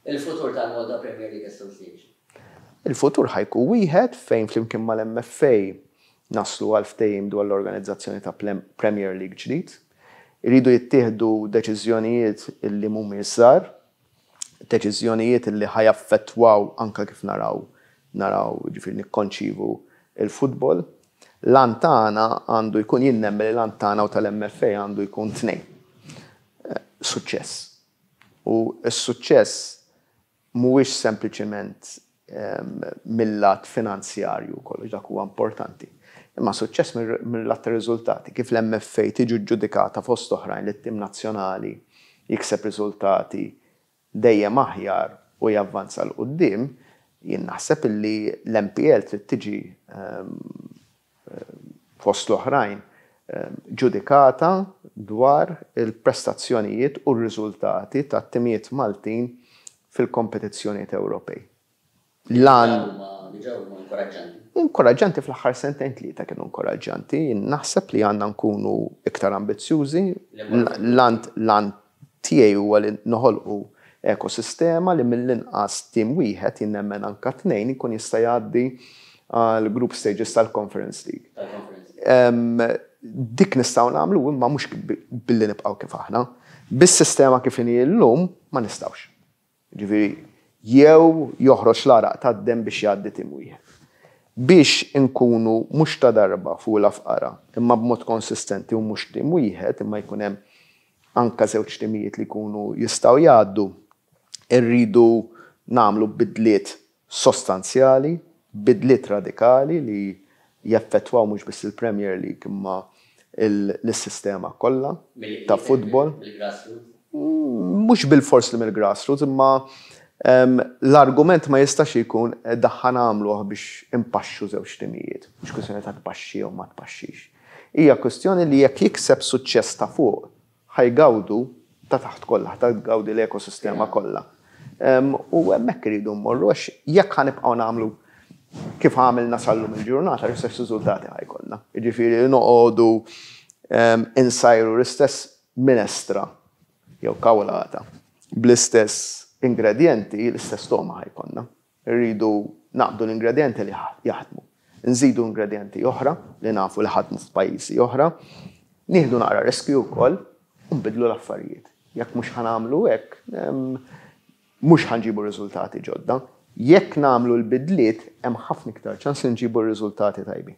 Il-futur tal-Malta Premier League Association. Il-futur ħa jkun wieħed fejn flimkien mal-MFA naslu għal ftehim dwar l-organizzazzjoni ta' Premier League ġdid. Iridu jittieħdu deċiżjonijiet li mhumiex żgħar, deċiżjonijiet li ħa jaffettwaw anke kif naraw naraw ġifieri nikkonċivu l-futbol. L-għan tagħna għandu jkun jien nemmen li l-għan tagħna u tal-MFA għandu jkun tnejn. Suċċess. U s-suċċess mhuwiex sempliċement mil-lat finanzjarju, kollox dak huwa importanti, imma suċċess mil-lat tar-riżultati, kif l-MFA tiġi ġġudikata fost oħrajn li t-tim nazzjonali jikseb riżultati dejjem aħjar u javvanza 'l quddiem, jien naħseb li l-MPL trid tiġi fost l-oħrajn, ġudikata dwar il-prestazzjonijiet u r-riżultati tat-timijiet Maltin fil-kompetizzjonijiet Ewropej. L-għan. Diġà huma inkuraġġanti. Inkuraġġanti fl-aħħar sentejn tlieta kienu inkuraġġanti. Jien naħseb li għandna nkunu iktar ambizzjużi. L-għan tiegħi huwa li noħolqu ekosistema li mill-inqas tim wieħed, jien nemmen anka tnejn, ikun jista' jgħaddi għall-group stages tal-Conference League. Dik nistgħu nagħmlu imma mhux billi nibqgħu kif aħna. Bis-sistema kif inhi llum ma nistgħux. Jiġifieri, jew joħroġ l-għaraq tad-demm biex jgħaddi tim wieħed. Biex inkunu mhux ta' darba fuq l-afqara, imma b'mod konsistenti u mhux tim wieħed, imma jkun hemm anke żewġ timijiet li jkunu jistgħu jgħaddu, irridu nagħmlu bidliet sostanzjali, bidliet radikali li jeffettwaw mhux biss il-Premier League imma l-sistema kollha ta' futbol. Mhux bilfors li mill-grassroots imma l-argument ma jistax jkun dagħha nagħmluh biex inpaxxu żewġ timijiet. Mhux kwistjoni ta' tpaxxi jew ma tpaxxix. Hija kwistjoni li jekk jikseb suċċess ta' fuq, ħa jgawdu ta' taħt kollha, ħa tgawdi l-ekosistema kollha. U hemmhekk iridu mmorru għax jekk ħa nibqgħu nagħmlu kif għamilna sal-lum il-ġurnata l-istess riżultati ħa jkollna. Jiġifieri noqogħdu insajru l-istess minestra jew kawlata bl-istess ingredjenti, l-istess togħma ħa jkollna. Irridu naqbdu l-ingredjenti li jaħdmu, nżidu ingredjenti oħra li nafu li ħadmu f'pajjiżi oħra, nieħdu naqra riskju wkoll u nbiddlu l-affarijiet. Jekk mhux ħa nagħmlu hekk, mhux ħa nġibu riżultati ġodda. Jekk nagħmlu l-bidliet, hemm ħafna iktar ċans li nġibu riżultati tajbin.